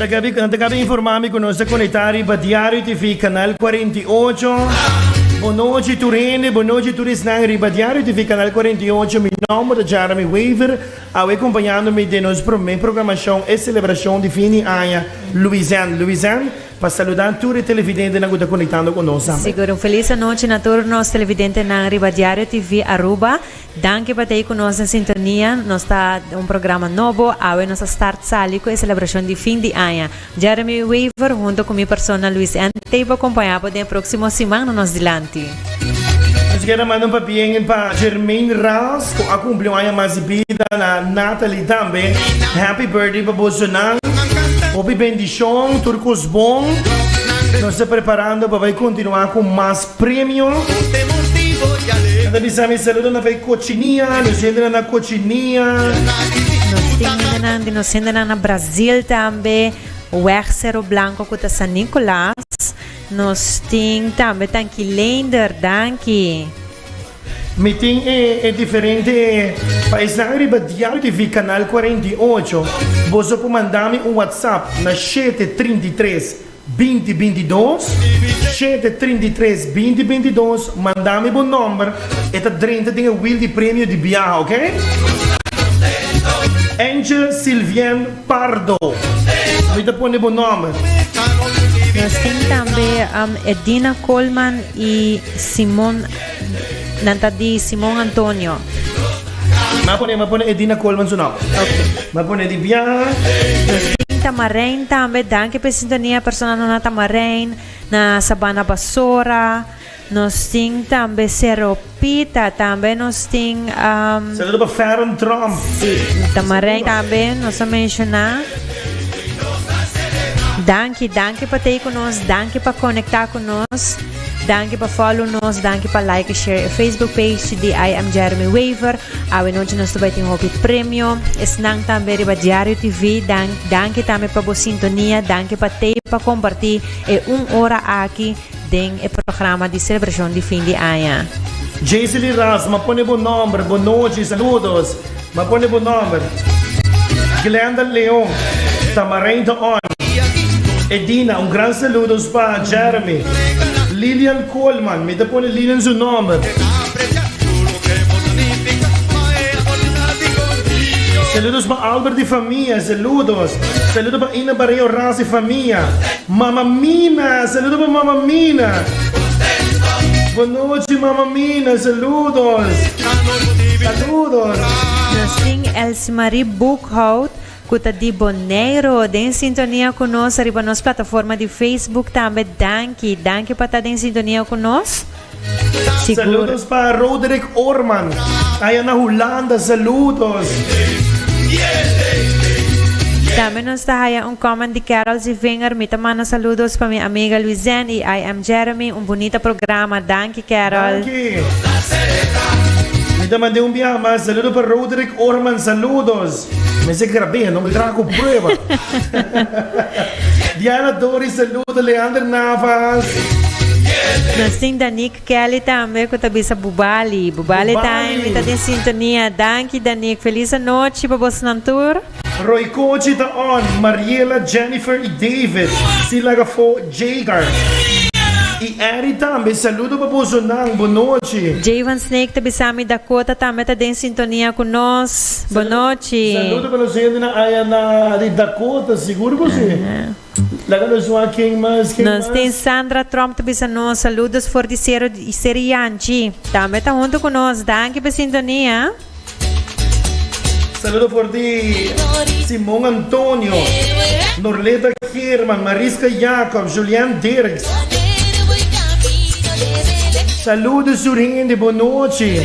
Nan ta kabi informá mi ku nos ta konektá riba Diario TV kanal kuarenta i ocho. Bonochi tur hende, bonochi tur esnan riba Diario TV kanal kuarenta i ocho. Mi nòmber ta Jeremy Wever, awe kompañando mi den nos promé programashon e selebrashon di fin di aña Luisèn. Luisèn Pa saludan tur e televidentenan cu ta conectando cu nos tambe. Sigur un feliz anochi na tur nos televidentenan riba Diario TV Aruba. Danki pa ta ei cu nos den sintonia. Nos ta un programa nobo. Awe nos a start sali cu e celebracion di fin di aña. Jeremy Wever hunto cu mi persona Luis N. ta ei pa acompaña bo den e proximo siman na nos dilanti. Nos quier a manda un papien pa Jermaine Ras cu a cumpli un aña mas di bida na Natalie tambe happy birthday pa boso nan hopi bendicion tur cos bon nos ta preparando pa bay continua cu mas premio nan ta bisa mi saludo na bay cocinia nos hende nan na cocinia Nos tin hende nan di nos hende nan na Brasil tambe weg Cerro Blanco cu ta San Nicolas. Nos tin tambe Danki Leender, danki. Mi tin e e diferente paisnan riba dial di vi Canal cuarenta y ocho. Boso por manda mi un WhatsApp na shete trinta y tres, binti binti dos, shete trinta y tres, binti binti dos. Manda mi bo nomber e ta drenta den e wil di premio di biaha, ok? Angel Sylvienne. Pardo. Mi ta pone bo nomber. Nos tin tambe um, Edina Colman i Simon, nan ta di Simon Antonio. Ma pone, ma pone Edina Colman su nom. Ma pone di bia. Nos tin Tamarein tambe, danki pe sintonia, persona nuna Tamarein, na Sabana Basora. Nos tin tambe seropita tambe nos tin um. Sendo pa feren drum. Si tamareng tambe nos a menshona. Danki danki pa tei ku nos danki pa konekta ku nos danki pa follow nos danki pa like e share e Facebook page di I am Jeremy Wever awe nochi nos ta bai tin hopi premio esnan tambe riba diario TV danki tambe pa bo sintonia danki pa tei pa komparti e un ora aki. den e programa di selebrashon di fin di aña. Jaycely Ras, m'a pone bo nòmber. Bonochi, saludos. M'a pone bo nòmber. Glenda Leon, ta Mareintha on. Edina, un gran saludos pa Jeremy. Lilian Coleman, mi ta pone Lilian su nòmber. Saludos pa Albert y famia, saludos. Saludo pa Ina Barrio Ras y famia. Mama Mina, saludo pa mama Mina. Bonochi mama Mina, saludos. Saludos. Nos tin Elsmarie Boekhout cu ta di Boneiru den sintonia cu nos riba nos plataforma di Facebook tambe. Danki, danki pa ta den sintonia cu nos. Saludos pa Roderick Oorman aya na Hulanda saludos. Tambe nos ta haya un comment di Carol C. Vinger, mi ta manda saludos pa mi amiga Luizen y I am Jeremy, un bunita programa, danki Carol. Danki. Mi ta mand'é un biaha mas, saludo pa Roderick Oorman, saludos. Mese grabé, no me traga con prueba. Diana Dori, saludo. Leander Navas. Na sing Danik Kelly tambe, ku ta bisa Bubali. Bubali, Bubali. time, ta den sintonia. Danki Danik, feliz anochi pa bos nan tur. Roy Kochi ta on, Mariela, Jennifer i David. Si laga fo. Jay Garcia y Eddie tambe saludo pa boso nan, bo nochi. Jay van Snake ta bisa mi Dakota tambe ta den sintonia cu nos, bo nochi. Saludo pa nos hendenan aya na di Dakota, sigur cu si. Laga nos hua ken mas, ken mas. Nos ten Sandra Trump ta bisa nos, saludos for di Seri Yanchi. Tambe ta hunto cu nos, danki pa sintonia. Saludo for di Simon Antonio, Norleta German, Marisca Jacob, Julian Dirks. Saludo su hende bo nochi.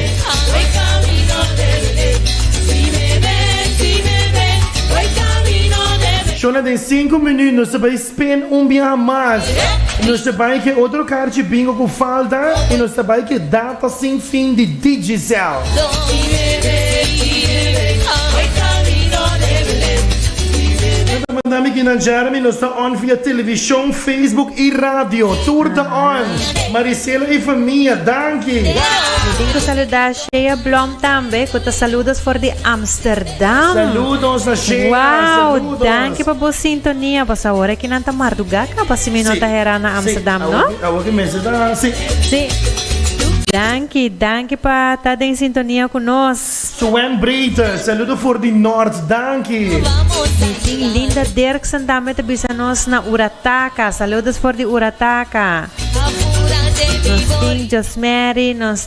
Spin un biaha mas y nos ta bay ke otro karchi bingo cu falta y nos ta bay ke data sin fin di Digicel. Nan ta manda mi kinan Jeremy nos ta on via television, Facebook y radio. Tur ta on. Marisela y famia, danki. Mi tin cu saluda. Shea Blom tambe cu ta saludos for di Amsterdam. Saludos na Shea. Wow, danki pa bo sintonia. Pas ahora ki nan ta marduga caba si mi no ta hera na Amsterdam, no? Awo ki mester ta, si. Si. Danki, danki pa ta den sintonia ku nos. Suen Breiter, saludo for di Noord, danki. Tin Linda Dirksen tambe te bisa nos na Urataka. Saludos for di Urataka. Nos tin Josmary, nos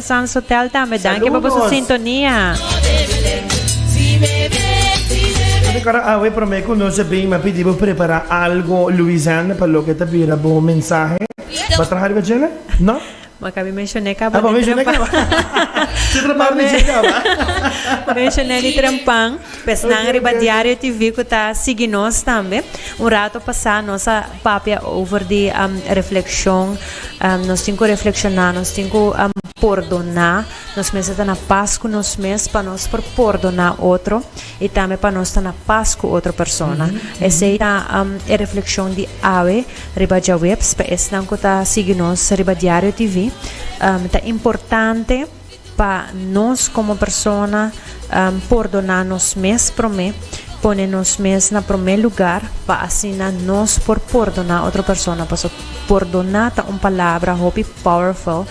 San Sotel tambe danki pa boso sintonia. Bo ta kara awe prome ku nos a bin mi a pidi bo prepara algo Louisane pa loke ta bira bo mensahe. Bo a traha riba djele? No? Bo a kabe menshoné kaba di trempan. Bo a menshoné kaba. Tin otro par di dje kaba. Bo a menshoné di trempan. Pesnan riba Diario TV ku ta sigui nos tambe. Un rato pasá nos a. Papia over di refleccion. Nos tin cu reflecciona, nos tin cu pordona nos mes ta na paz cu nos mes pa nos por pordona otro y tambe pa nos ta na paz cu otro persona. Esey ta e refleccion di awe riba djaweps pa esnan cu ta sigui nos riba Diario TV. Ta importante. Pa nos komo persona pordoná nos mes promé, pone nos mes na promé lugar pa asina nos por pordoná otro persona. Por eso pordoná ta un palabra hopi powerful,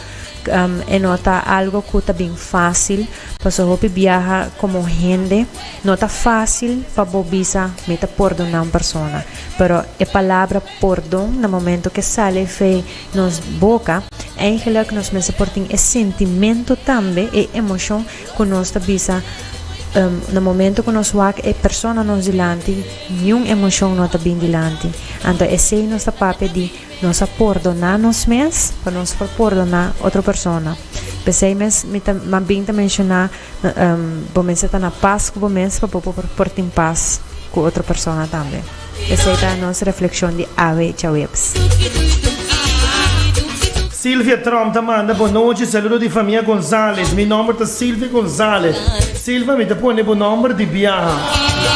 e no ta algo ku ta bin fásil, paso hopi biaha komo hende no ta fásil pa bo bisa mi ta pordoná un persona, pero e palabra pordon na momento ke sali fe. Nos boka. Eigenlijk nos mester por tin e sentimento tambe, e emocion cu nos ta bisa, Um, na momento cu nos wak e persona nos dilanti, niun emocion no ta bin dilanti. Anto esey nos ta papia di nos a pordona nos mes pa nos por pordona otro persona. P'esey mes mi ta mas bin ta menciona, um, bo mester ta na pas cu bo mes pa bo por tin pas cu otro persona tambe. Esei ta nos reflekshon di awe djaweps. Silvia Tromp ta manda bo nochi saludo di famia Gonzalez mi nomber ta Silvia Gonzalez Silva mi ta pone bo nomber di biaha.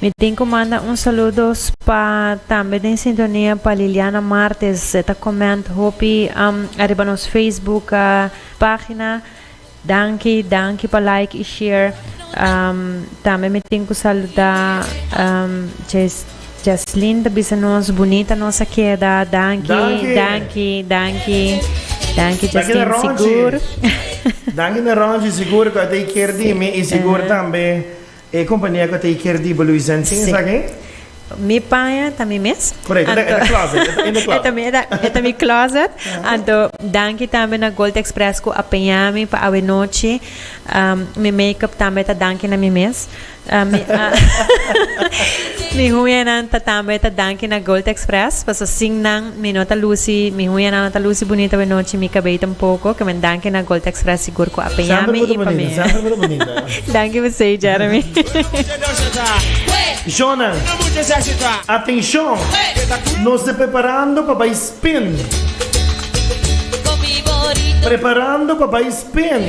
Mi tin cu manda un saludos pa tambe den sintonia pa Liliana Martes. E ta comment hopi um, ariba nos Facebook uh, pagina. Danki, danki pa like y share. Um, tambe mi tin cu saluda um, Jes, Jaslin ta bisa nos bunita nos a queda. Danki, Danki. danki, danki. Danki Danki na Jaslin Ronchi. Sigur. Danki na Ronchi, sigur cu a take care di mi y sigur tambe E compania cu ta y ker di Baloo y Zen tin esaki? Si. Mi paña ta mi mes. Correcto, e ta in the closet, e ta in the closet. E ta mi, e ta mi closet. Anto, danki tambe na Gold Express cu a peña mi pa awe nochi. Mi make-up tambe ta danki na mi mes. Mi, mi huñanan ta tambe ta danki na Gold Express, paso sin nan. Mi no ta luci, mi huña nan no ta luci bunito awe nochi, mi cabei tampoco. Ke men danki na Gold Express sigur cu a peña mi y pa mi. Danki p'esey Jeremy. Jonan, atencion! Nos ta preparando pa bay spin. Preparando pa bay spin.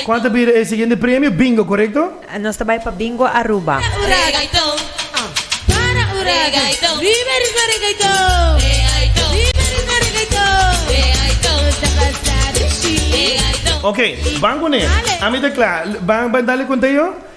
Cual ta bira e siguiente premio? Bingo, corecto? Nos ta bay pa Bingo Aruba. Oke, ban cu ne. Ami ta cla. Ban dale conteo?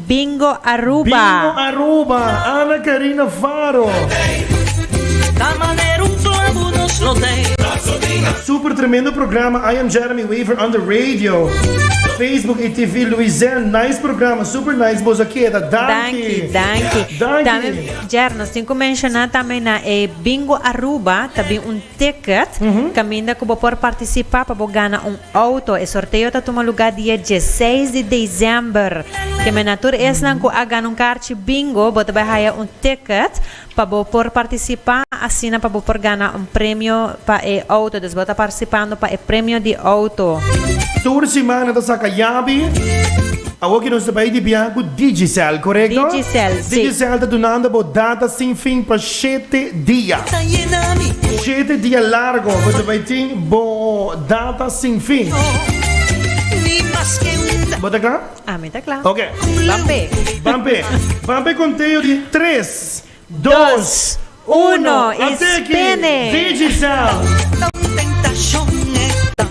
Bingo Aruba! Bingo Aruba, Ana Karina Faro. Ta manera un clavo nos lo te. Super tremendo programa I am Jeremy Wever on the radio Facebook y TV Louisène nice programa super nice boso a keda danki danki danki. Tambe Jer nos tin cu menciona tambe na e Bingo Aruba ta bin un Ticket, Caminda cu bo por participa pa bo gana un auto. E sorteo ta tuma lugar dia dieseis di dezember. Keme na tur esnan cu a gana un karchi Bingo, bo ta bay haya un ticket pa bo por participa asina pa bo por gana un premio pa e auto. Dus bo ta parcipando pa e premio di auto. Tur simana ta saca yabi. Awor ki nos ta bay di bia cu Digicel, corecto? Digicel, si. Digicel ta dunando bo data sin fin pa. Shete dia. Shete dia largo bo ta bay tin bo data sin fin. Bo ta kla? Ami ta kla. Ok. Ban pe. Ban pe. Ban pe conteo di tres, dos, uno y spin it. Digicel.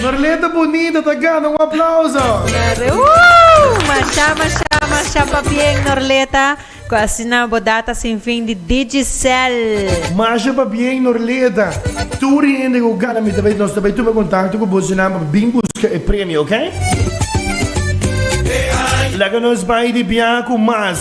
Norleta bunita ta gana un aplauso. Norle Woo! Masha masha masha pa bien Norleta cu asina bo data sin fin di Digicel. Masha pa bien Norleta. Tur e hende cu gana mi ta bay nos ta bay tuma contacto cu bosinan pa bin busca e premio ok. Laga nos bay di bia cu mas.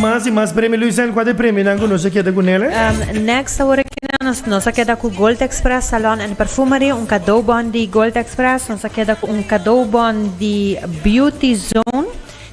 Mas y mas premio Luis Angua de premio nan cu nos a keda cu nele. Um, next awor kina nos nos a keda cu Gold Express Salon and Perfumery un cadeau bon di Gold Express nos a keda cu un cadeau bon di Beauty Zone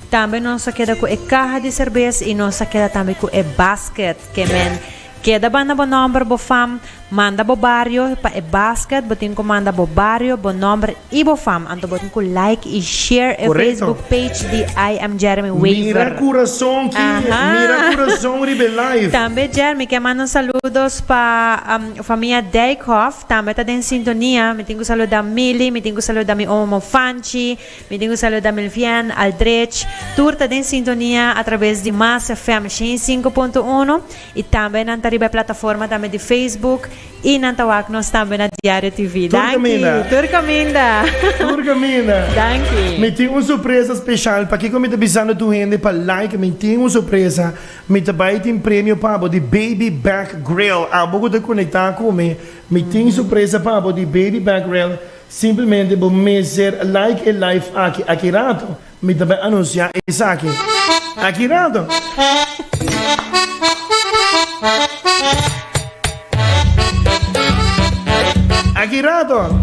tambe nos a keda cu e caha di cerveza y nos a keda tambe cu e basket que men Keda banda bo nòmber, bo fam, manda bo bario pa e basket, bo tin ku manda bo bario, bo nòmber i bo fam, anto bo tin ku like i share e Facebook page di I am Jeremy Wever. Mira kurason ki, mira kurason riba e live. Tambe Jeremy ke manda un saludos pa famia Dijkhof, tambe ta den sintonia, mi tin ku saluda Milly, mi tin ku saluda mi omo Fanchi, Mi tin ku saluda Milvian Aldrich, tur ta den sintonia a traves di Masa FM shen i sinku punto uno i tambe nan ta riba e plataforma tambe di Facebook i nan ta wak nos tambe na Diario TV. Tur kaminda. Danki. Tur kaminda. Tur kaminda. Danki. Mi tin un sorpresa speshal, pakiko mi ta bisando tur hende pa like, mi tin un sorpresa, mi ta bai tin premio pa bo di Baby Back Grill, abo ku ta konekta ku mi, mi tin sorpresa pa bo di Baby Back Grill. Simplemente bo mester like e live aki aki rato, mi ta bai anuncia esaki aki rato. Aki rato.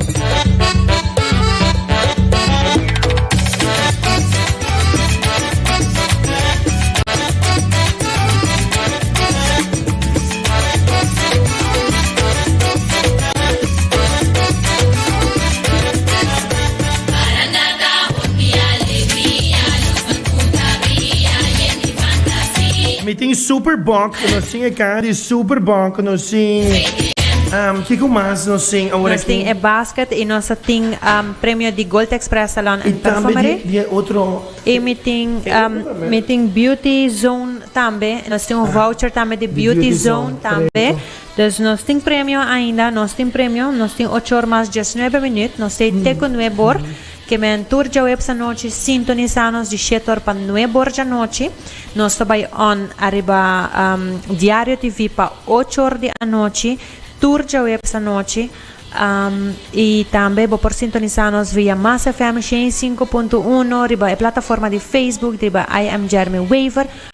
Mi tin super bok ku nos sing e kan di super bok ku nos sing. Um, kiko mas nos sing ahora nos tin e basket i nos tin um, premio di Gold Express Salon en Perfumery. Di, di otro. I mi tin um, mi tin Beauty Zone tambe. Nos tin un ah. voucher tambe di Beauty, beauty Zone, zone tambe. Dus nos tin premio ainda, nos tin premio, nos tin ochor mas diesnuebe minüt, nos t'ei te ku nue bor, ke men tur djaweps anochi sintonisá nos di shete or pa nue bor djanochi, nos ta bai on ariba Diario TV pa ochor di anochi tur djaweps anochi, i tambe bo por sintonisá nos via Mas FM shen i sinku punto uno riba e plataforma di Facebook riba I am Jeremy Wever.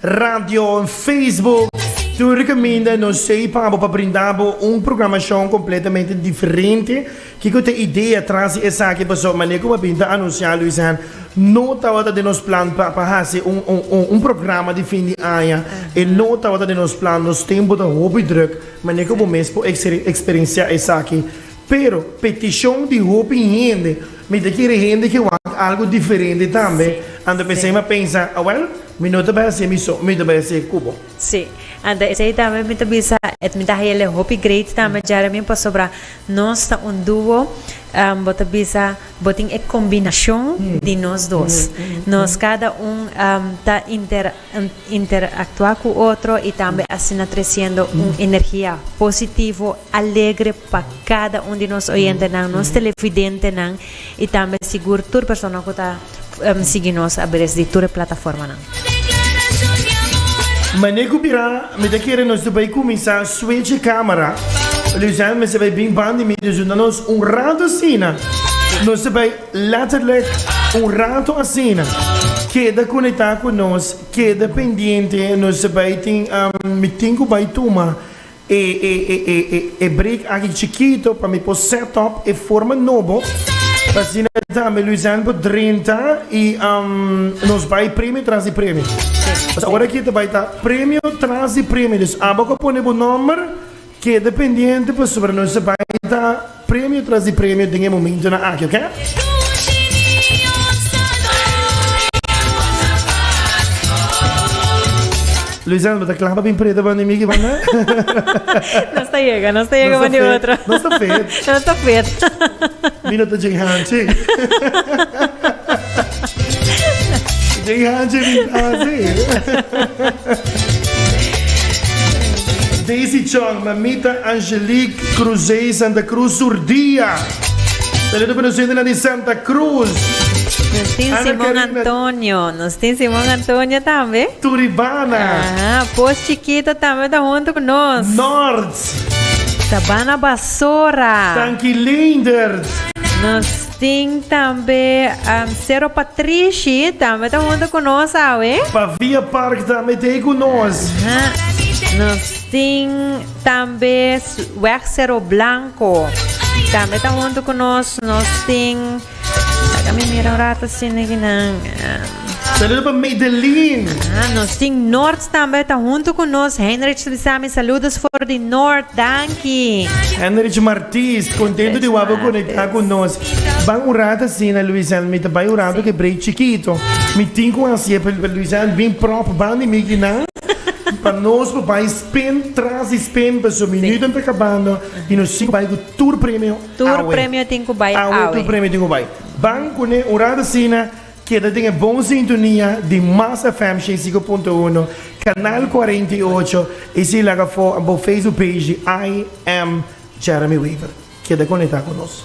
radio en Facebook. Tur di caminda nos ei pa bo pa brinda bo un programacion completamente diferente. Kico ta idea tras di esaki? Paso mane cu bo a bin ta anuncia Luis Hen, no tabata den nos plan pa pa haci un un un programa di fin di aña. E no tabata den nos plan. Nos tempo ta hopi druk. Mane cu bo mes por experiencia esaki? Pero petishon di hopi hende mi ta kere hende ke wak algu diferente tambe, anto p'esei mi a pensa, awèl, mi no ta bai hasié mi so, mi ta bai hasié ku bo. Sí, anto esei tambe mi ta bisa et mi ta haele hopi great tambe Jeremy pasobra nos ta un dúo, bo ta bisa bo tin e kombinashon di nos dos, nos kada un ta inter. interactua cu otro y tambe asina treciendo un energia positivo, alegre pa cada un di nos oyentenan, nos televidentenan y tambe sigur tur persona cu ta sigui nos aberes di tur e plataformanan. Mane cu bira mi ta kere nos ta bay cuminsa switch e camera. Luzijn mester bay bin ban di mi, dus duna nos un rato asina. Nos ta bay. Letterlijk un rato asina. Keda conecta cu nos, keda pendiente, nos bai tin, mi tin cu bai tuma e e e e break aki chikito pa mi por set up e forma nobo, asina tambe Luisèn por drenta y nos bai premio tras di premio. Awor aki ta bai ta premio tras di premio, dus aba cu a pone bo nomber. Keda pendiente pasobra nos a bai ta premio tras di premio den e momentonan aki, oke? Luisel, bo ta kla pa bin preda banda di mi ki banda? Nos ta yega, nos ta yega banda di otro. Nos ta fit. Nos ta fit. Mi no ta djing hanchi. Jay Hansen niet aanzien. Daisy Chong, mamita Angelique Cruzé Santa Cruz Surdia. Saludo para gente de Santa Cruz. Nos tin Simon Antonio. Nos tin Simon Antonio también. Turibana. Ah, Pos Chiquito también está junto con nos. Nords. Sabana Basora. Tanki Leendert. Nos Tin tambe Sero Patrishi tambe ta hunto ku nos awe. Pa Via Park tambe ta ei ku nos. Nos tin tambe Weg Sero Blanko tambe ta hunto ku nos. Nos tin laga mi mira un rato si neginan. Saludo pa Madeline. Ah, nos tin Noord tambe ta hunto ku nos. Heinrich Swisami, saludos for di Noord. Danki. Heinrich Martis, kontento di wap'e konekta ku nos. Ban un rat asina Luisel, mi ta bai un rato ke break chikito. Mi tin kon hasié pa Luisel bin pròp ban di mikinan pa nos por bai spin tras di spin paso minutonan ta kabando i nos tin ku bai ku tur premio awe. Tur premio tin ku bai awe. Awe tur premio tin ku bai. Ban kuné un rat asina. Keda den e bon sintonia di Mas FM shen sinku punto uno, kanal kuarenta i ocho i si laga afó bo Facebook page di I am Jeremy Wever. Keda konektá ku nos.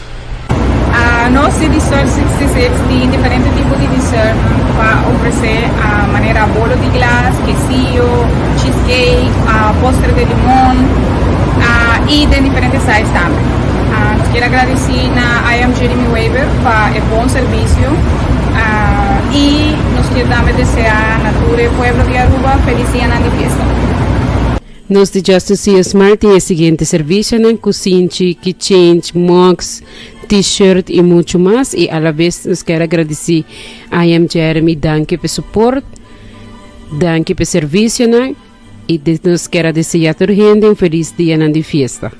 Nos tin di sort sixty-six tin diferente tipo di dessert pa ofrece manera bolo di glas, quesillo, cheese cake, postre de limon y den diferente size tambe. Nos kier agradeci na I Am Jeremy Weber pa e bon servicio y nos kier tambe desea na tur e pueblo di Aruba felis dianan di fiesta. Nos di Justice Sea Smart tin e siguiente servicionan, kusinchi, keychange, mugs, T-shirt y mucho mas. Y alabes nos ker a gradici I Am Jeremy danki p'e support, danki p'e servicionan y nos ker a desea tur hende un feliz dianan di fiesta.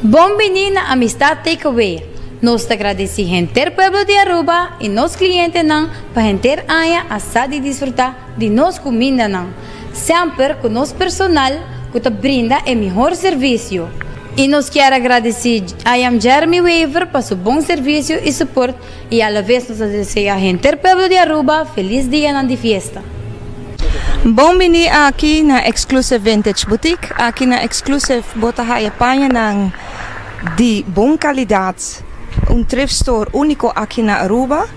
Bon bini na Amistad Takeaway! Nos ta gradeci henter pueblo di Aruba y nos clientenan pa henter aña a sa di disfruta di nos cumindanan, semper cu nos personal cu ta brinda e mihor servicio. Y nos kier a gradeci I Am Jeremy Wever pa su bon servicio y support I alavez nos ta desea henter pueblo di Aruba felis dianan di fiesta. Bon bini aki na Exclusive Vintage Boutique. Aki na Exclusive bo ta haya pañanan di bon kalidad, un thrift store úniko aki na Aruba,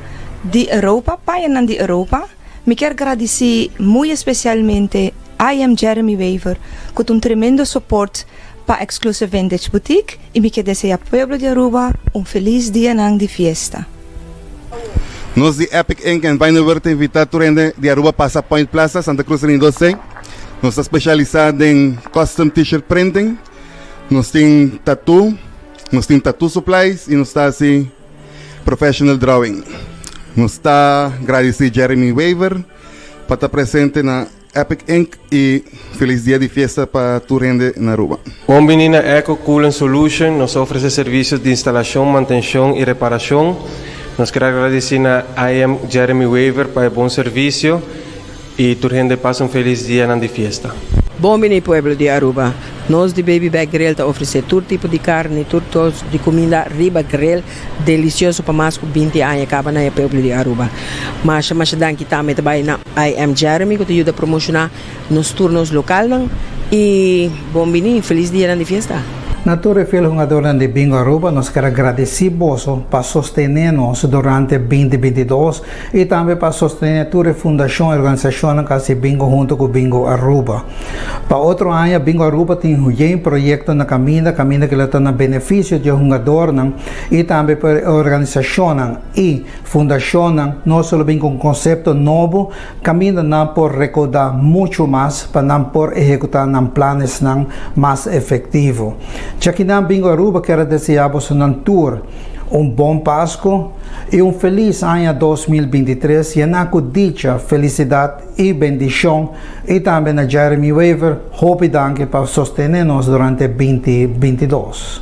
di Europa, pañanan di Europa. Mi kier gradici muy especialmente IM Jeremy Wever cu ta un tremendo support pa Exclusive Vintage Boutique y mi kier desea pueblo di Aruba un feliz dianan di fiesta. Nos di Epic Ink and Vinywer ta invita tur hende di Aruba pasa Point Plaza, Santa Cruz Ring dos ei. Nos ta specialisa den custom T-shirt printing. Nos tin tattoo, nos tin tattoo supplies y nos ta haci. Professional Drawing. Nos ta gradisí Jeremy Wever pa ta presente na Epic Ink i felis dia di fiesta pa tur hende na Aruba. Bon bini na Eco Coolant Solution. Nos ta ofresé servisionan di instalashon, mantenshon i reparashon. Nos kere gradisí na IM Jeremy Wever pa e bon servisio Y tur hende pasa un felis dianan di fiesta. Bon bini pueblo di Aruba. Nos di Baby Back Grill ta ofrece tur tipo di carni, tur tors di cuminda riba grill delicioso pa mas cu binti aña caba na e pueblo di Aruba. Masha masha danki tambe ta bay na IM Jeremy cu ta yuda promocioná nos turnos localnan y bon bini felis dianan di fiesta. Na tur e fiel hungadornan di Bingo Aruba nos ker a gradici boso pa sostene nos durante binti binti dos. I tambe pa sostene tur e fundashon i organisashonnan ku a hasi bingo huntu ku Bingo Aruba. Pa otro aña, Bingo Aruba tin hojen proyekto na kaminda, kaminda kila ta na benefisio di e hungadornan i tambe pa e organisashonnan i fundashonnan. No solo bin ku un konsepto nobo, kaminda nan por rekaudá muchu mas pa nan por ehekutá nan planesnan mas efektivo. Chakinan Bingo Aruba kier a deseá bosonan tur. Un bon Pasku i un felis aña dos mil binti tres yená ku dicha, felisidat i bendishon i tambe na Jeremy Wever hopi danki pa sostené nos durante binti binti dos.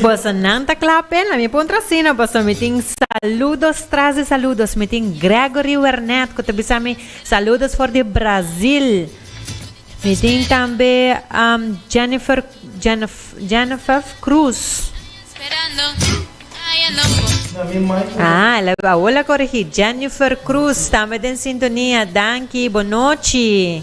Boso nan ta cla pe la mi puntra asina boso mi tin saludos tras di saludos mi tin Gregory Wernet cu ta bisa mi saludos for di Brasil mi tin tambe Jennifer Jennifer Cruz ah el a hola corigi Jennifer Cruz tambe den sintonia danki bo nochi.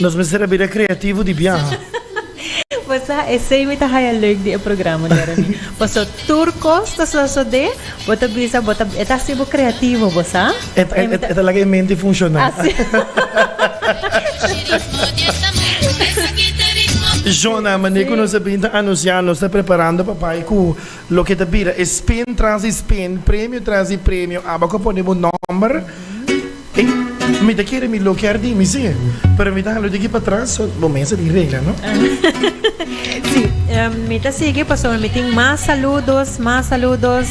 Nos mester a bira creativo di biaha. Bo sa esey mi ta haya leuk di e programa Jeremy. Paso tur cos ta sosode, bo ta bisa bo ta e ta haci bo creativo bo sa. E ta e ta laga e mente funciona. Jona, mane cu nos a bin ta anuncia nos ta preparando pa bai cu. Loke ta bira e spin tras di spin, premio tras di premio, aba cu pone bo nomber. Ey, mi ta kere mi loke Ardin, mi si, pero mi ta hala di aki pa tras, so bo mester di regla, no? Si, mi ta sigui pasobra mi tin mas saludos, mas saludos.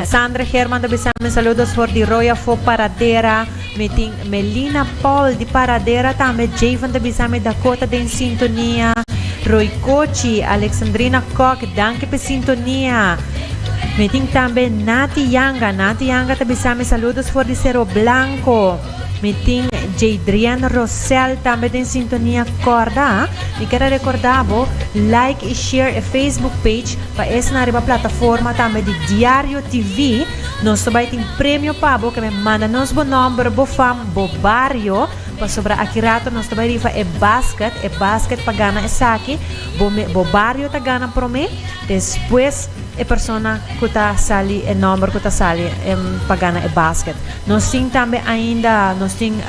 Sandra Herman ta bisa mi saludos for di Royafo Paradera. Mi tin Melina Paul di Paradera tambe Jay van ta bisa mi Dakota den sintonia Roy Cochi Alexandrina Kok danki p'e sintonia Mi tin tambe Nati Yanga Nati Yanga ta bisa mi saludos for di Sero Blanco Mi tin Jaydrian Rosel tambe den sintonia Corda mi ker a recorda bo like y share e Facebook page pa esnan riba plataforma tambe di Diario TV Nos ta bai tin premio pa bo, keme manda nos bo nòmber, bo fam, bo bario, pasobra aki rato nos ta bai rifa e basket, e basket pa gana esaki bo mi bo bario ta gana prome, despues e persona ku ta sali e nòmber ku ta sali pa gana e basket. Nos tin tambe ainda nos tin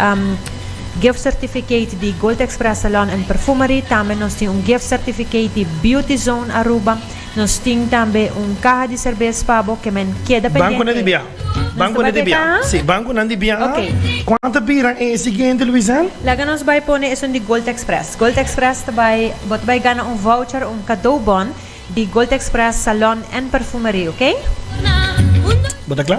gift certificate di Gold Express Salon and Perfumery, tambe nos tin un gift certificate di Beauty Zone Aruba. Nos tin tambe un kaha di serbes pa bo ke men keda pendiente. Bankunan di biaha. Bankunan di biaha. Si, bankunan di biaha. Ok. Kual ta bira e siguiente, Luisen? Laga nos bai pone esun di Gold Express. Gold Express ta bai, bo ta bai gana un voucher, un kadou-bon, di Gold Express Salon en Perfumerie, oke? Bo ta kla?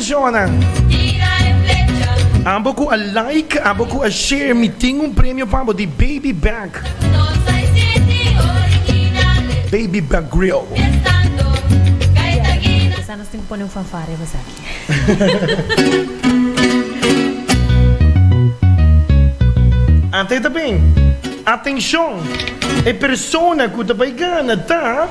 Jonan. Ambo ku a like, ambo ku a share mi tin un premio pa bo di Baby Back. Baby Back Grill. Kisa nos tin ku pone un fanfare pa esaki. Atenshon! E persona ku ta bai gana ta.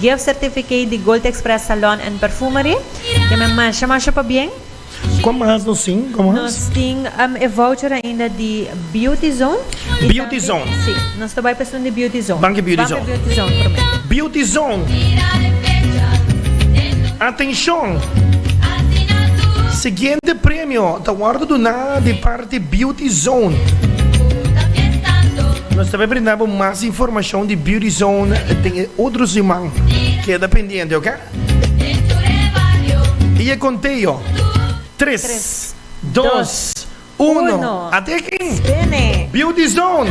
Gift certificate di Gold Express Salon and Perfumery. Ke men masha masha pabien. Kon mas nos tin? Kon mas? Nos tin um e voucher ainda di Beauty Zone. Beauty Zone. Si, nos ta bai pa esun di Beauty Zone. Ban ke Beauty Zone. Ban pa Beauty Zone prome. Beauty Zone. Atenshon! Siguiente premio ta wordo duna di par. di Beauty Zone. Nos ta por brinda bo mas informashon di Beauty Zone den e otro siman. Keda pendiente, oke? I e konteo, tres, dos, uno, ate akin! Beauty Zone.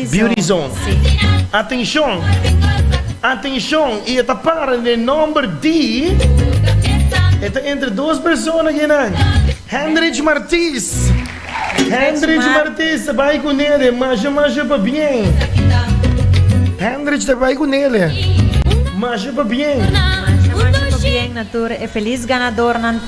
Biorizon. Atenshon! Atenshon! I e ta para den nòmber di. E ta entre dos persona kinan? Hendrich Martis! Hendrich Martis ta bai ku Nele. Masha masha pabien. Hendrich ta bai ku Nele. Masha pabien. Masha masha pabien na tur e felis ganadornan.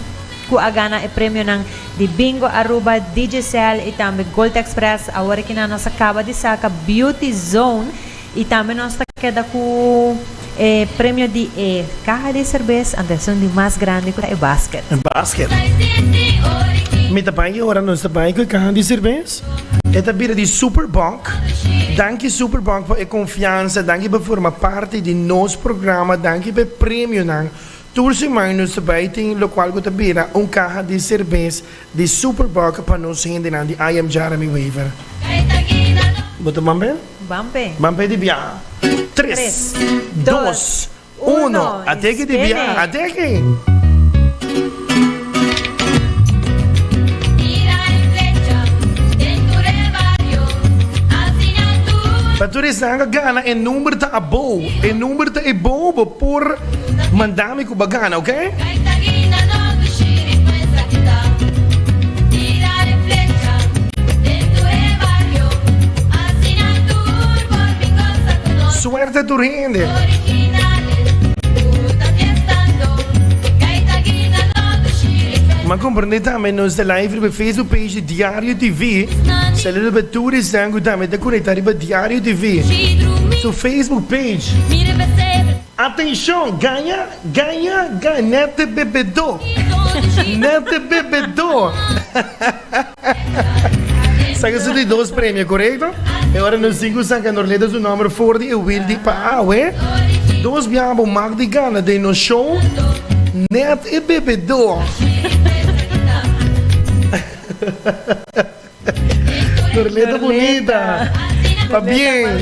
cu a gana e premionan di Bingo Aruba, Digicel y tambe Gold Express. Awor aki nan nos a caba di saca Beauty Zone y tambe nos ta keda cu e premio di e caha di cerveza anto esun di mas grandi cu ta e basket. Basket. Mi ta baña y ora nos ta baña cu e caha di cerveza. E ta bira di Superboc. Danki Superboc pa e confiansa, danki pa forma parti di nos programa, danki pa e premionan Tur siman nos ta bai tin lokual ku ta bira un kaha di serbes di Superboc pa nos hendenan di IM Jarami Wever. Bo ta ban pe? Ban pe. Ban pe di biaha. Tres, dos, uno, a teke di biaha, a teke! Pa turis nan a gana e number ta abou, e number ta ebou bo por manda mi ku bo a gana ok. Ma comprende tambe nos ta live riba Facebook page di Diario TV. Saludo pa tur esnan cu tambe ta conecta riba Diario TV. Su Facebook page. Atencion! Gana, gana, gana! Nete bebedo! Nete bebedo! Sa ke su di dos premio, korekto? E ora nos tin ku San Kandorleta su nòmber for di e wil di Paahue, dos biaha bo mak di gana den nos show, nèt e bebedó. Dorleta Bunita. Pabien.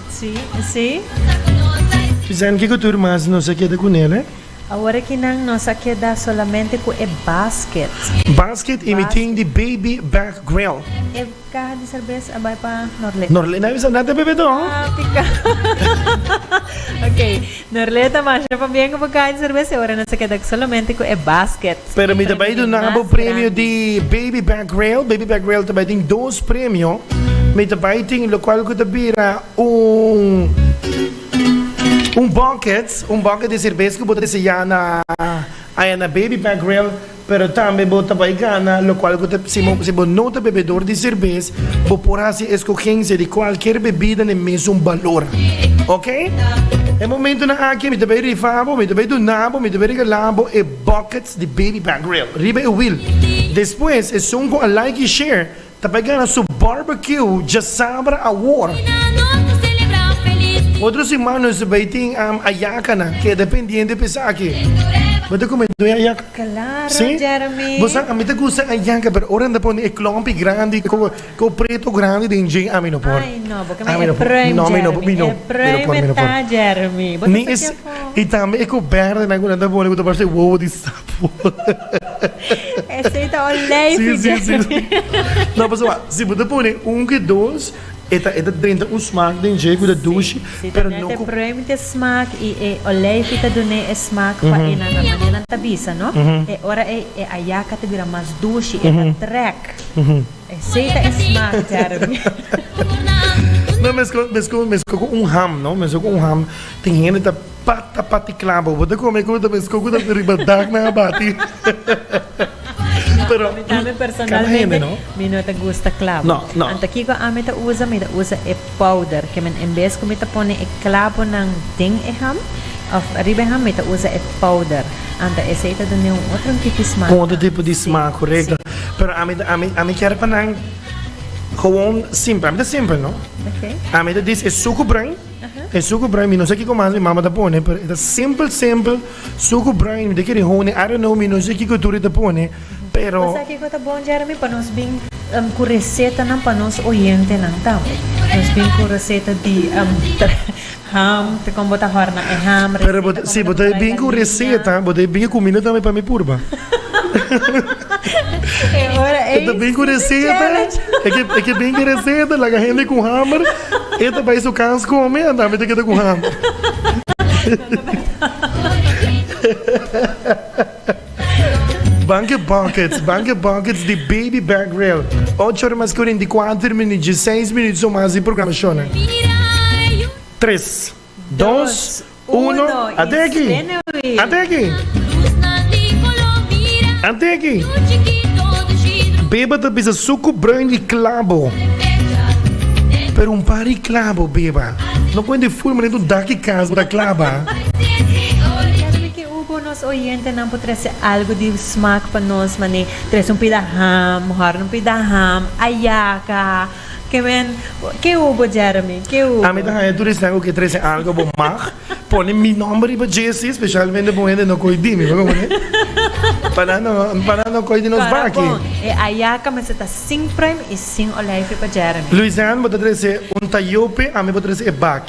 Sí, sí. Vicente, kiko tur mas nos a keda ku nel, eh? Awor aki nan nos a keda solamente ku e basket. Basket y mi tin di baby back grill. E caha di cerveza a bai pa Norlena. Norlena a bisa nan ta bebe too. Tica. Ok. Norley ta masha pa bien ku bo kai serbes e ora nos a kedak solamente ku e basket. Pero mi ta bai duna bo premio di Baby Back Rale. Baby Back Rale ta bai tin dos premio. Mi ta bai tin lokual ku ta bira un un bucket, un bucket di serbes ku bo ta deseá na Baby Back Rale. Pero tambe bo ta bai gana, lokual ku ta si si bo no ta bebedor di serbes, bo por hasi eskogensia di kualkier bebida den mesun balor. Oke? E momentunan aki mi ta bai rifa bo, mi ta bai duna bo, mi ta bai regalá bo e buckets di Baby Back Grill riba e wil. Despues esun ku a like i share, Ta bai gana su barbecue djasabra awor. Otro siman nos ta bai tin ayaka nan keda pendiente pa esaki. Bo ta kume due ayaka? Claro Jeremy. Si? Bo sa ami ta gusta ayaka pero ora nan ta pone e klompi grandi ku ku preto grandi den dje ami no por. Ay no bo keme e pruim Jeremy. Mi no por mi no por. E pruim e ta Jeremy. Bo ta sakiafo. I tambe e ku berde nan ku nan ta pone ku ta parse wowo di sa. Esei ta un lei fi Jeremy. No, pasobra wacht, si bo ta pone un ku e dos, e ta e ta drenta un smak den dje ku ta dushi, Si ta pero no nete ku prueba mi te smak i e olei fi ta dun'é e smak pa e nan a manera nan ta bisa no, e ora ei e ayaka ta bira mas dushi, e ta trèk. Esei ta e smak Jeremy. No, meskos meskos meskos ku un ham no, meskos ku un ham, tin hende ta. Pata patiklan bo bo ta come cu ta mezco cu ta riba dak nan a bati pero ami tambe personalmente no. mi no ta gusta clavo no, no. anta kico ami ta usa mi ta usa e powder que men en vez cu mi ta pone e clavonan den e ham of riba e ham mi ta usa e powder anta esey ta dun'e un otro tipo di smaak un otro tipo di smaak correcto pero ami ami ami kier pa nan gewoon simpel ami ta simpel no okay. ami ta dice e sucu bren E suku brain mi no sa kiko mas mi mama ta pone pero e ta simpel simpel suku brain mi ta kiri hone I don't know mi no sa kiko tur e ta pone pero. Bo sa kiko ta bon Jeremy pa nos bin ku resetanan pa nos oyentenan tambe nos bin ku reseta di ham kon bo ta horna e ham reseta kon bo ta trae la harina pero si bo ta bin ku reseta bo ta bin ku kumida tambe pa mi purba e ora ey si ta chelech e ke bin ku reseta laga hende ku hamer. E ta bai su kans ku mi, anta mi ta keda ku hama. Banke buckets, banke buckets di Baby Back Reel. Ocho ora mas kurenti kuater minut, djeseis minut so mas di programashon. Tres, dos. Uno, ate aki. Ate aki. Ate aki. Beba ta bisa suku bruin di klabo. Pero un par di klabo, beba. No kuente ful manera un daki kas bo ta klaba. Nos oyentenan por trese algu di smak pa nos, manera trese un pida ham, hòrna un pida ham, ayaka, Kevin, Ke hu bo Jeremy? Ke hu bo? Ami ta haña tur e sèn ku ke trese algu bo mag pone mi nòmber riba JC, spesialmente bon hende no koi di mi, bo ta kontá? Pa nan no, pa nan no koi di nos Kòrò baki. bon, e ayaka mester ta sin prèm i sin olèfje pa Jeremy. Louisain, Bo ta trese un tayope, ami por trese e baki.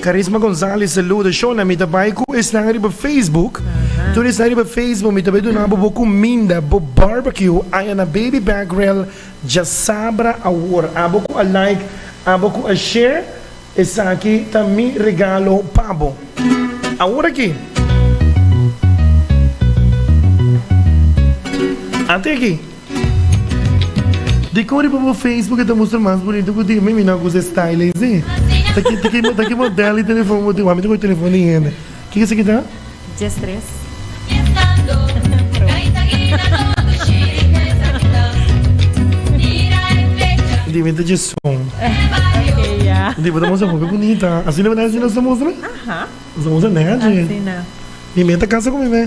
Carisma Gonzalez saluda, Shona mi ta bay cu esnan riba Facebook, tur esnan riba Facebook mi ta bay duna bo bo cuminda, bo barbecue aya na Baby Back Grill dja sabra awor, abo cu a like abo cu a share esaki ta mi regalo pa bo awor aki, ate aki. Di kor riba bo facebook e ta mustra mas bunito ku tin? Mi mi no kusa e style eysi. Ta ki model di telefon bo tin? Wak mi ta koge telefon di hende. Kiko esaki ta? Djes tres. Di mi ta djesun. Di bo ta mustra hopi bunita. Asina bo nèt nos ta mustra? Nos ta mustra nèt dje. Mi mi ta kasa ku mi mi.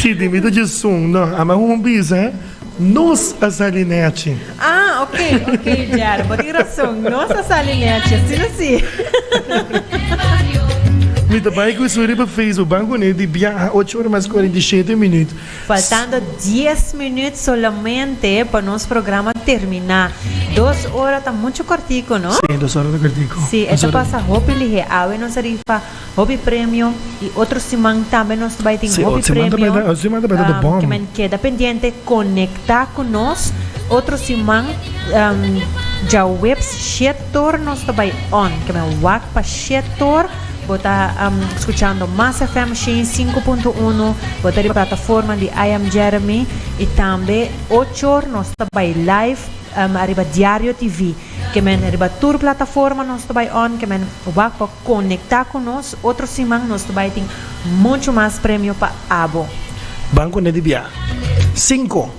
Si di mi ta djesun no a man un bisa nos a sali nechi. Ah, ok, ok, Jerry, bo tin razón, nos a sali nechi, si no si. Mi ta bai ku suri pa Facebook, ban kune di biaha ocho ora mas cuarenta y siete minut. Faltando dies minut solamente pa nos programa termina. Dos ora ta mucho cortico, no? Si, dos ora ta cortico. Si, e ta pasa hopi lihe, awe nos a rifa. Hopi premio y otro siman tambe nos ta bay tin hopi premio ke men keda pendiente conecta cu nos otro siman djaweps shet or nos ta bay on ke men wak pa shet or bo ta scuchando mas FM shen y sinku punto uno bo ta riba plataforma di I am Jeremy y tambe och or nos ta bay live ariba diario TV ke men riba tur plataforma nos ta bay on ke men wak pa Conecta cu nos, otro siman nos ta bay tin mucho mas premio pa abo. Banco ne di bia. Cinco,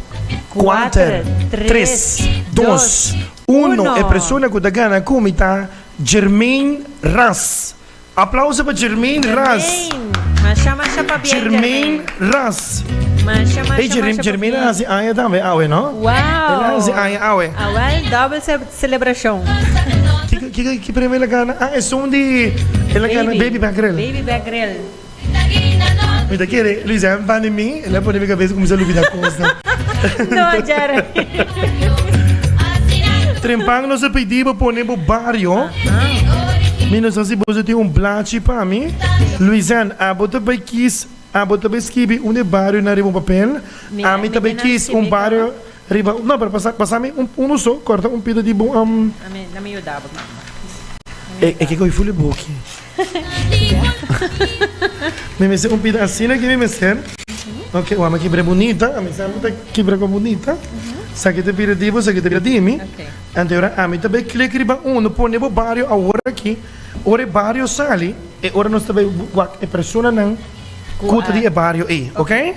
cuater, tres, dos, uno. E persona cu ta gana cu mi ta Jermain Ras. Aplauso pa Jermain Ras. Jermain Ras. Ey Jermain a haci aña tambe awe no. Ela haci aña awe. Celebracion. Ki premio el a gana? Ah esun di el a gana baby back grill. Baby back grill. Mi ta kere Luis Herman pan di mi el a pone mi cabeza cuminsa lubida cosnan. No Jeremy. Trempan nos a pidi bo pone bo bario. Mi no sa si bo su tin un blachi pa mi. Luis Herman abo ta bay kiss abo ta bay skibi un e bario nan riba un papel ami ta bay kiss un bario Riba no pero pasa pasa mi un uno so corta un pida di bo am. Amen na mi yuda bo mama. E ke coge fuli boki. Mi mester un pida asina ke mi mester ok wama ki bre bunita ami sa mi ta ki bre cu bunita sa ke ta bira di bo sa ke ta bira di mi anto ora ami ta bay click riba uno pone bo bario awor aki ora e bario sali e ora nos ta bay wak e personanan. Kuta di e bario ei ok.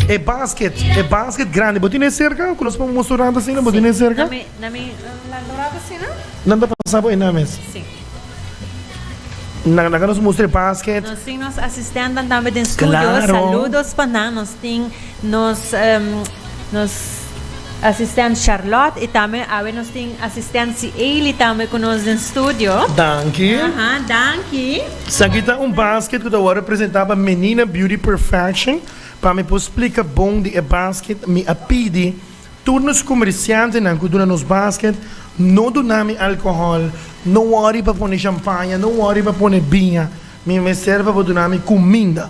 E basket e basket grandi bo tin ei serka ku nos por musu un ranta asina bo tin ei serka? Na mi nan do ranta asina? Nan ta pasa bo einan mes? Si. Nan laga nos mustra e basket. Nos tin nos asistentenan tambe den studio. Claro. Saludos pa nan. Nos tin nos nos asistent Charlotte i tambe awe nos tin asistent Sieli tambe ku nos den studio. Danki. Aha danki. Esaki ta un basket ku ta wòrdu presentá pa Menina Beauty Perfection. Pa mi por splika bon di e basket mi a pidi tur nos komersiantenan ku duna nos basket, no duna mi alkohòl, no wòri pa pone shampaña, no wòri pa pone biña, mi mester pa bo duna mi kuminda.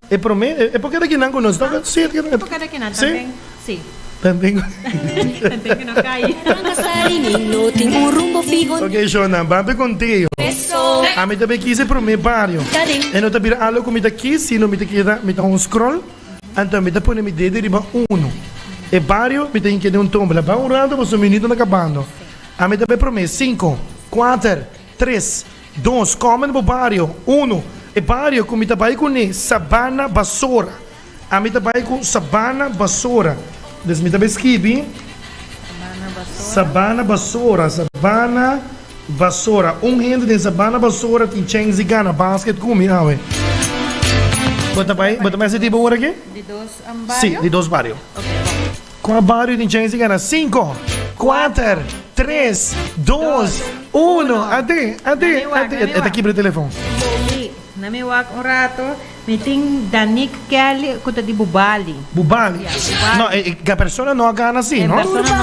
E prome, e pokeda kinan ku nos toka? Si, e pokeda kinan tamben. Si. Tenten ku. Tenten ku no kai. Ok, shona, ban ta konteo. Ami ta bai kis e prome bario. E no ta bira algo ku mi ta kis, sino mi ta keda, mi ta haña un scroll, anto mi ta pone mi dedo riba uno. E bario mi ta hinka den un tombla. Ban un rato, boso minuto na kabando. Ami ta bai prome, sinko, kuater. Tres, Dos, Kòmen den bo bario. Uno, E bario ku mi ta bai kuné sabana basora. Ami ta bai ku sabana basora. Des mi ta bai skibi sabana basora, sabana basora. Un hende den sabana basora tin chens di gana basket ku mi awe. Bo ta bai, bo ta bai hasi tipo ora ki? Di dos bario? Sí, di dos bario. Cu a bario di Genesis gana? Cinco, cuater, tres, dos, uno. Ade, ade, ade. E ta kibra e telefon. Bobby, na mi wak un rato. Mi tin Danique Kelly cu ta di Bubali. Bubali. No, e e persona no a gana si, no.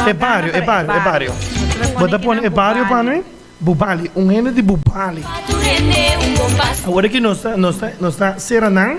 E bario, e bario, e bario. Bo ta pone e bario pa mi? Bubali. Un hende di Bubali. Awor aki nos ta, nos ta, nos ta cera nan.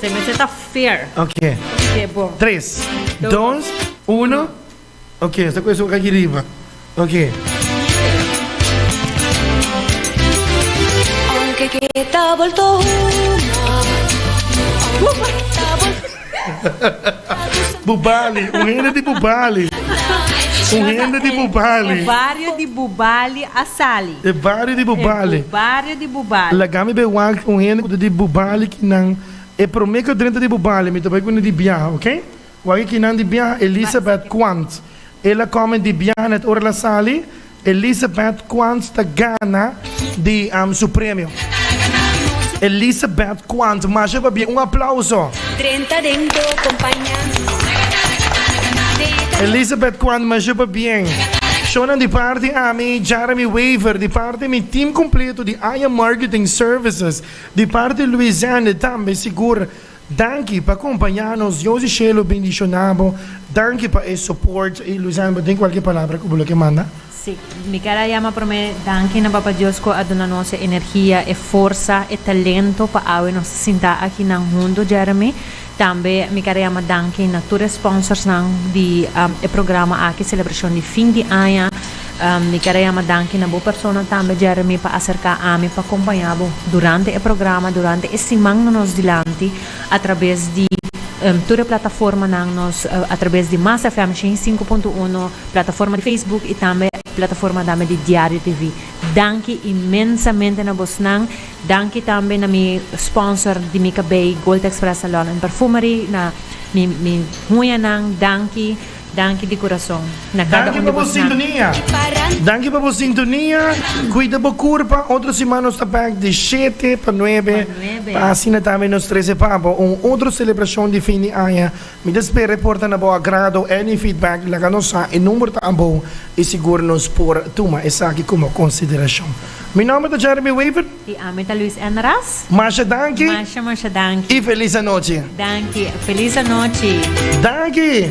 Se mester ta fair. Ok. Ok, bo. Tres, dos, Dos, uno. uno. Ok, esta cu eso aquí arriba. Ok. Aunque queda volto una, aunque queda volto Bubali, un hende di Bubali. Un hende di Bubali. Barrio di Bubali a sali. E bario di Bubali. E bario di Bubali. Laga mi bai wak un hende ku ta di Bubali ki nan e promé ku a drenta di Bubali mi ta bai kuné di biaha ok. Wak e kinan di biaha Elisabeth Quant el a kòmen di biaha nèt ora el a sali Elisabeth Quant ta gana di su premio. Elisabeth Quant masha pabia un aplauso. Drenta den bo compaña mi. Elizabeth Quantma Jupa Bien. Shonan di parti ami, Jeremy Wever di parti mi team completo di Aya Marketing Services, di parti Louisende tambe sigur danki pa compaña nos Dios di Shelo bendiciona bo danki pa e support y Louisende bo tin cualkier palabra cu bo lo ke manda? Si, mi ker a yama promé danki na Papa Dios ku a duna nos e energia, e forsa, e talento pa awe nos ta sinta aki nan huntu Jeremy. Tambe mi ker a yama danki na tur e sponsorsnan di e programa aki, selebrashon di fin di aña. Mi ker a yama danki na bo persona tambe Jeremy pa aserká ami pa kompañá bo durante e programa, durante e siman na nos dilanti atrabes di tur e plataformanan nos, atrabes di Mas FM shen i sinku punto uno. Plataforma di Facebook y tambe plataforma dame di Diario TV. Danki inmensamente na bosnan. Danki tambe na mi sponsor di mi cabei Gold Express Salon and Perfumery, na mi mi huñanan danki, danki di curason na cada Danki un pa di bo bosnan. sintonia. Danki pa bo sintonia. Cuida bo curpa. Otro siman nos ta back di shete pa nuebe. Pa asina tambe nos trece pa bo un otro celebracion di fin di aña Mi ta spera e por ta na bo agrado. Any feedback laga nos sa, e number ta abou y sigur nos por tuma esaki como consideracion. Mi nomber ta Jeremy Wever. Y ami ta Luis N. Ras. Masha danki. Masha masha danki. Y feliz anochi. Danki. Feliz anochi. Danki.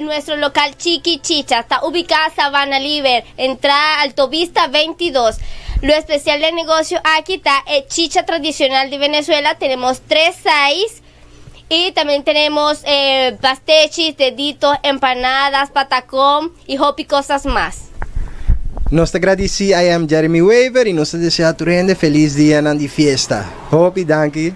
Nuestro local Chiki Chicha ta ubiká Sabana Liber, entrada Altovista 22. Lo especial den negocio aki ta e chicha tradicional di Venezuela, tenemos tres size y también tenemos pastechis, deditos, empanadas, patacón y hopi cosas mas. Nos ta gradici I am Jeremy Wever y nos ta desea tur hende feliz dianan di fiesta. Hopi danki.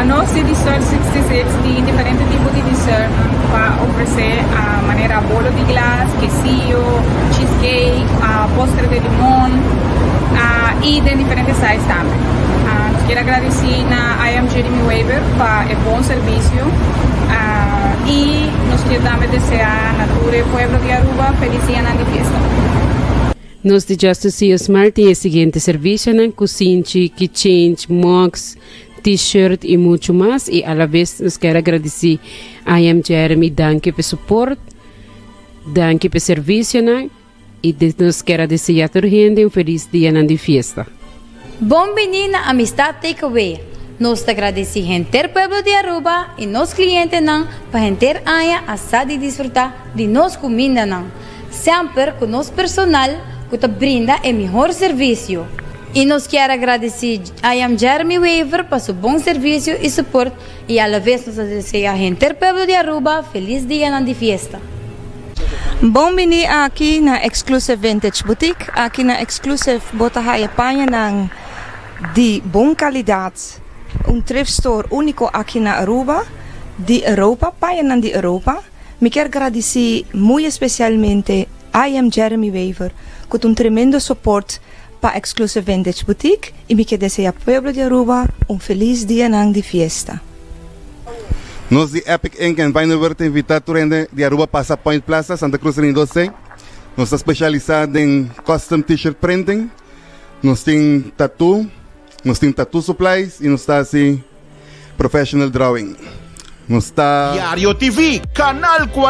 Nos di Distort 66 tin diferente tipo di dessert pa ofrece manera bolo di glas, quesillo, cheese cake, postre de limon y den diferente size tambe. Nos quier agradeci na I Am Jeremy Weber pa e bon servicio y nos quier tambe desea na tur e pueblo di Aruba feliz dianan di fiesta. Nos di Justus Ceo Smart tin e siguiente servisionan, kusinchi, kicheng, mugs, T-shirt i muchu mas. I alabes nos kier a gradisí I Am Jeremy danki p'e suport, danki p'e servisionan i nos kier a deseá tur hende un felis dianan di fiesta. Bon bini na Amistad Takeaway. Nos ta gradeci henter pueblo di Aruba y nos clientenan pa henter aña a sa di disfruta di nos cumindanan, semper cu nos personal cu ta brinda e mihor servicio. Y nos kier a gradeci I Am Jeremy Wever pa su bon servicio y support I alavez nos ta desea henter pueblo di Aruba felis dianan di fiesta. Bon bini aki na Exclusive Vintage Boutique. Aki na Exclusive bo ta haya pañanan di bon kalidat, un thrift store úniko aki na Aruba, di Europa, pañanan di Europa. Mi kier gradisí muy especialmente I Am Jeremy Wever ku ta un tremendo soport. pa Exclusive Vintage Boutique y mi ke desea pueblo di Aruba un feliz dia nan di fiesta. Nos di Epic Ink and Vinywer ta invita tur hende di Aruba pasa Point Plaza, Santa Cruz Ring dos ei. Nos ta specialisa den custom T-shirt printing, nos tin tattoo, nos tin tattoo supplies y nos ta haci professional drawing. Nos ta. Diario TV, Canal 40.